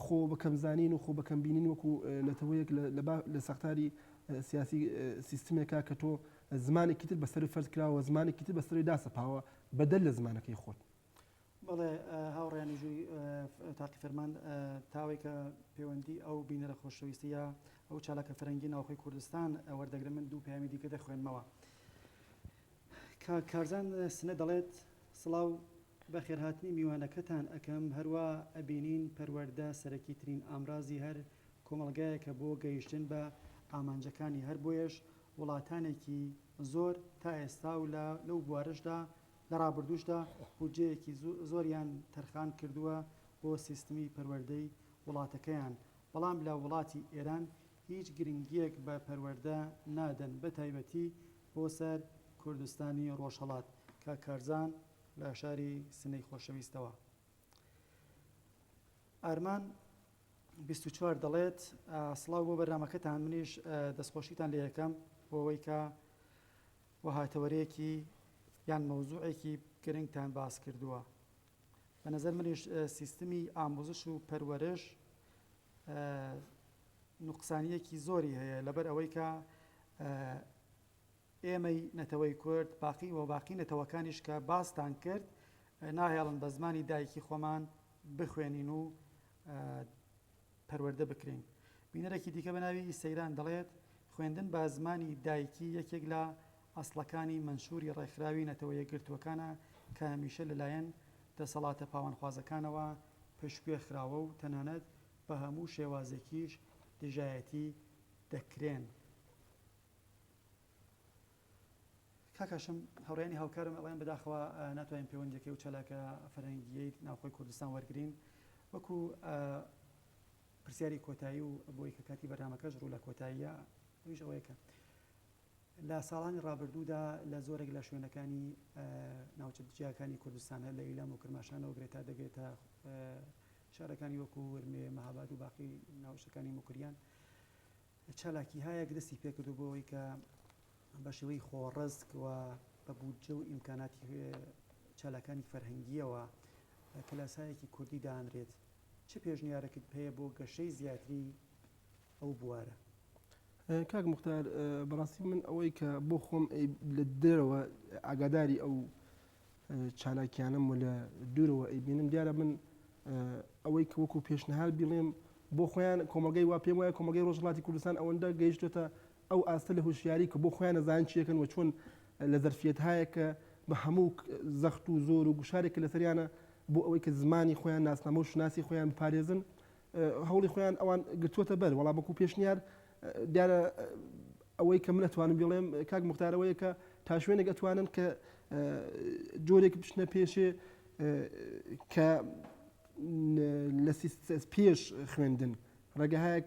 خۆ بەکەم زانین و خۆ بەکەم بینین وەکو نەتەوەیەک لە سەختاری سیاسی سیستمێکا کە تۆ زمانێکی تر بەسەروی فەرز کراوە و زمانێکی تر بەسەروی داسەپاوە بەدەر لە زمانەکەی خۆت. بەڵێ هاوڕێیان مێژووی تاقی فەرمان تاوێکە پێوەندی ئەو بینەرە خۆشەویستە یا ئەو چالاکە فەرەنگی ناوخۆی کوردستان وەردەگرم من دوو پەیامی دیکە دەخوێنمەوە کاک کارزان سنە دەڵێت سڵاو بەخێرهاتنی میوانەکەتان ئەکەم هەروا ئەبینین پەروەردە سەرەکیترین ئامرازی هەر کۆمەڵگایەکە بۆ گەیشتن بە ئامانجەکانی هەر بۆیەش وڵاتانێکی زۆر تا ئێستا و لە لەو بوارەشدا لە ڕابردووشدا بودجەیەکی زۆریان تەرخان کردووە بۆ سیستمی پەروەردەی وڵاتەکەیان بەڵام لە وڵاتی ئێران هیچ گرنگیەک بە پەروەردە نادەن بە تایبەتی بۆ سەر کوردستانی ڕۆژهەڵات کاک کارزان لە شاری سنەی خۆشەویستەوە ئارمان بیست و چوار دەڵێت، سڵاو بۆ بەرنامەکەتان، منیش دەستخۆشیتان لێ ئەکەم بۆ ئەوەی کە وەها تەوەرەیەکی یان مەوزوعێکی گرنگتان باس کردووە. بە نەزەر منیش سیستمی ئاموزش و پەروەرش نوقسانیەکی زۆری هەیە لەبەر ئەوەی کە ئێمەی نەتەوەی کورد باقین و باقی نەتەوەکانیش کە باستان کرد ناهێڵن بە زمانی دایکی خۆمان بخوێنین و پەروەردە بکرێین. بینەرێکی دیکە بە ناوی سەیران دەڵێت، خوێندن بە زمانی دایکی یەکێک لە ئەسڵەکانی مەنشوری ڕێکخراوی نەتەوە یەکگرتووەکانە کە هەمیشە لەلایەن دەسەڵاتە پاوانخوازەکانەوە پشتگوێ خراوە و تەنانەت بە هەموو شێوازێکیش دژایەتی دەکرێن. کاک هاشم، هاوڕێیانی هاوکارم ئەڵێن بەداخەوە ناتوانین پێوەندییەکەی و چالاکە فەرهەنگییەی ناوخۆی کوردستان وەرگرین. وەکو پرسیاری کۆتایی و بۆی کە کاتی بەرنامەکەش ڕوو لە کۆتاییە، ئەویش ئەوەیە کە لە ساڵانی ڕابردوودا لە زۆرێک لە شوێنەکانی ناوچە جیاکانی کوردستان هەر لە ئیلام و کرماشانەوە بگرە تا دەگرێتە شارەکانی وەکو ورمێ، مەهاباد و باقی ناوچەکانی موکریان چالاکیهایەک دەستی پێکردووە بۆ ئەوەی کە بە شێوەی خۆڕسک و بە بودجە و ئیمکاناتی چالاکانی فەرهەنگییەوە کلاسایەکی کوردی دانرێت چ پێشنیارەکت پێەیە بۆ گەشەی زیاتری ئەو بوارە؟ کاک مختار بەڕاستی من ئەوەی کە بۆ خۆم لە دەرەوە ئاگاداری ئەو چالاکیانەم و لە دوورەوە ئەیبینم، دیارە من ئەوەی کە وەکو پێشنهاد بیڵێم بۆ خۆیان کۆمەڵگای وا پێم وایە کۆمەڵگای ڕۆژهەڵاتی کوردستان ئەوەندە گەیشتۆتە ئەو ئاستە لە هوشیاری کە بۆ خۆیان ئەزانن چی ئەکەن و چۆن لە زەرفیەتهایەک کە بە هەموو زەخت و زۆر و گوشارێک کە لەسەریانە بۆ ئەوەی کە زمانی خۆیان ناسنامە و شوناسی خۆیان بپارێزن هەوڵی خۆیان ئەوان گرتووەتە بەر وەڵام وەکو پێشنیار دیارە ئەوەی کە من ئەتوانم بڵێم کاک مختارەوەیە کە تا شوێنێک ئەتوانن کە جۆرێک بچنە پێشێ کە لە پێش خوێندن ڕێگەهایەک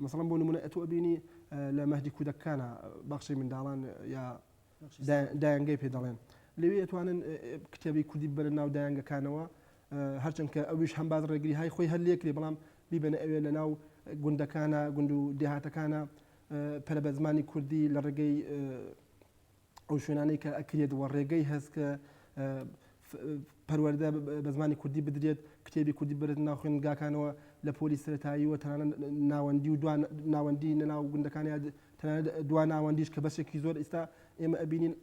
مەسەڵم بۆ نمونە ئەتوە بینی لە مەهدی کودەکانە بەخشی منداڵان یا دایەنگەی پێ دەڵێن. لەوێ ئەتوانن کتێبی کوردی ببەنە ناو دایەنگەکانەوە، هەرچەند کە ئەویش هەم باس ڕێگری های خۆی هەر لێکرێ بەڵام بیبەنە ئەوێ لە ناو گوندەکانە گوند و دێهاتەکانە پەرە بە زمانی کوردی لە ڕێگەی ئەو شوێنانەی کە ئەکرێت و ڕێگەی هەست کە پەروەردە بە زمانی کوردی بدرێت، کتێبی کوردی ببرێتە ناو خوێندنگاکانەوە لە پۆلی سەرەتایی و تەنانەت ناوەندی و دوان ناوەندی نە ناو گوندەکان یا تەنانەت دوا ناوەندیش کە بەشێکی زۆر ئیستا ئێمە ئەبینین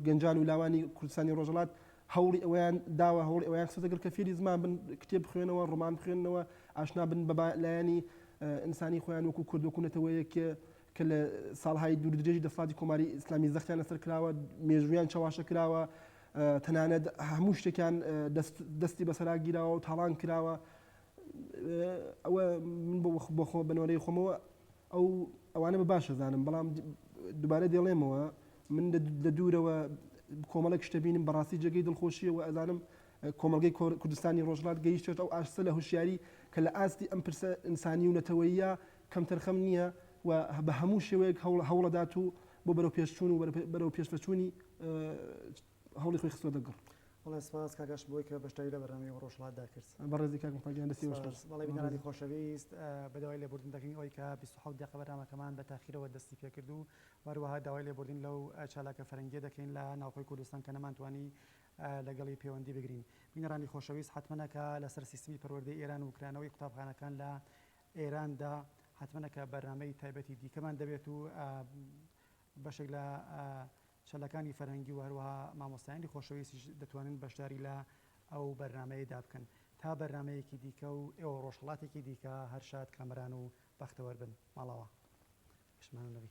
گەنجان و لاوانی کوردستانی ڕۆژەڵات هەوڵی ئەویان داوە هەوڵی ئەویان خستە گەر کە فێری زمان بن کتێب بخوێنەوە ڕۆمان بخوێنەوە ئاشنا بن بە لایەنی ئینسانی خۆیان وەکو کورد وەکو نەتەوەیەک کە لە ساڵهای دوور درێژی دەسەڵاتی کۆماری ئیسلامی زەختیان لەسەر کراوە، مێژوویان چەواشە کراوە، تەنانەت هەموو شتێکیان دەستی بەسەرا گیراوە و تاڵان کراوە. ئەوە من بۆ خۆ بە نۆرەی خۆمەوە ئەو ئەوانە بە باش ئەزانم، بەڵام دووبارە دێڵێمەوە من لە دوورەوە کۆمەڵێک شتە بینم بەڕاستی جێگەی دڵخۆشیە و ئەزانم کۆمەلگەی کوردستانی ڕۆژڵات گەیشتێت ئەو ئاستە لە هوشیاری کە لە ئاستی ئەم پرسە ئینسانی و نەتەوەیە کەمتەرخەم نییە و بە هەموو شێوەیەک هەوڵەدات و بۆ بەرەوپێشچوون و بەرەو پێشڤەچوونی هەوڵی خۆی خستووەتە گڕ. بەڵێ سپاس کاک ئاشق بەوەی کە بەشداری لە بەرنامەی ڕۆژهەڵاتدا کرد. بەڕێزی کاک مختار گیان دەستی خۆش. سپاس. بەڵێ بینەرانی خۆشەویست بە داوای لێبوردن دەکەین ئەوەی کە بیست و حەوت دەقە بەرنامەکەمان بە تاخیرەوە دەستی پێکرد و وەروەها داوای لێبوردن لەو چالاکە فەرەنگیە دەکەین لە ناوخۆی کوردستان کە نەمانتوانی لەگەڵی پێوەندی بگرین. بینەرانی خۆشەویست حەتمەنە کە لەسەر سیستمی پەروەردەی ئێران و کرانەوەی قوتابخانەکان لە ئێراندا حەتمەنە کە بەرنامەی تایبەتی دیکەمان دەبێت و بەشێک لە چەلەکانی فەرهەنگی و هەروەها مامۆستایانی خۆشەویستیش دەتوانن بەشداری لە ئەو بەرنمەیەدا بکەن تا بەرنمەیەکی دیکە و ئێوە ڕۆژهڵاتێکی دیکە هەر شاد کامەران و بەختەوەر بن ماڵەوە پشمان نەبی.